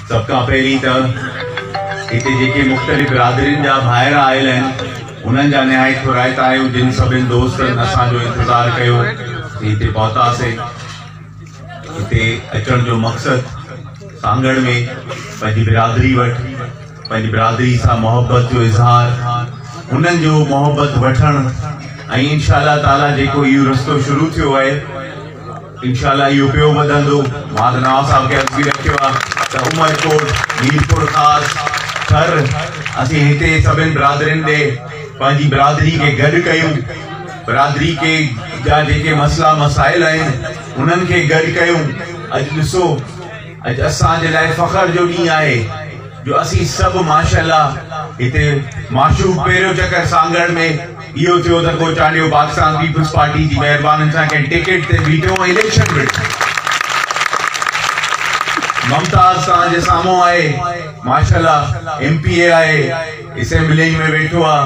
سڀ کان پهرين ته هتي جيڪي مختلف برادرين جا ڀائر آيل آهن انهن جا نهايت ٿورائتا آهيون جن سڀن دوستن اسان جو انتظار ڪيو هتي پهتاسين هتي اچڻ جو مقصد سانگهڙ ۾ پنهنجي برادري وٽ پنهنجي برادري سان محبت جو اظهار انهن جو محبت وٺڻ ۽ انشاءالله تعاليٰ جيڪو اهو رستو شروع ٿيو آهي انشاء الله اهو ٻيو وڌندو. مان ته نواب صاحب کي عرض به رکيو آهي ته عمرڪوٽ، ميرپورخاص، ٿر اسين هتي سڀني برادرين ڏي پنهنجي برادري کي گڏ ڪيون، برادري کي جا جيڪي مسئلا مسائل آهن انهن کي گڏ ڪيون. اڄ ڏسو. اڄ اسان جي لاء فخر جو ڏينهن آهي جو اسين سڀ ماشاءالله هتي معشوق پهريون چڪر سانگهڙ ۾ اهو ٿيو ته ڪو چانڊيو پاڪستان پيپلز پارٽي جي مهربانن سان ڪنهن ٽڪيٽ تي بيٺو ۽ اليڪشن وڙهيو ممتاز توهان جي سامهون آهي ماشاءالله ايم پي اي آهي اسيمبلي ۾ ويٺو آهي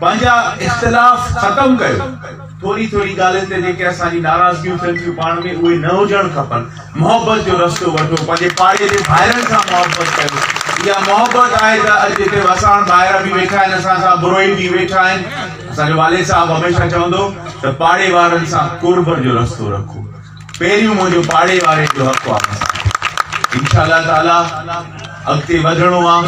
پنهنجا اختلاف ختم ڪيو، ٿوري ٿوري ڳالهين تي جيڪي اسان جي ناراضگيون ٿين ٿيون پاڻ ۾ اهي نه هجڻ کپن، محبت جو رستو وٺو، پنهنجي پاڙي جي ڀائرن سان محبت ڪيو، اها محبت آهي ته اڄ هتي وساڻ ڀائر به ويٺا آهن اسان سان، بروهي به ويٺا آهن، اسان جو والد صاحب هميشه چوندو ته پاڙي وارن سان قرب جو رستو رکو. پهريون منهنجو پاڙي واري جو حق واپس آڻي انشاء الله تعالي اڳتي وڌڻو آ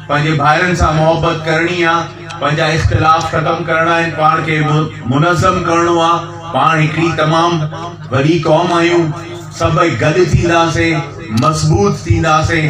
پنهنجي ڀائرن سان محبت ڪرڻي آ پنهنجا اختلاف ختم ڪرڻا آهن پاڻ کي منظم ڪرڻو آ پاڻ هڪڙي تمام وڏي قوم آهيون سڀئي گڏ ٿينداسين مضبوط ٿينداسين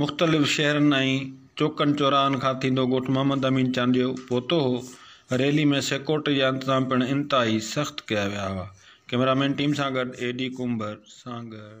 مختلف شهرن ۽ چوڪن چوراهن کان ٿيندو ڳوٺ محمد امين چانڊيو پهتو هو، ريلي ۾ سيڪورٽري جا انتظام پڻ انتهائي سخت ڪيا ويا هئا، ڪئميرا مين ٽيم سان گڏ اي ڊي ڪنڀر سانگهڙ.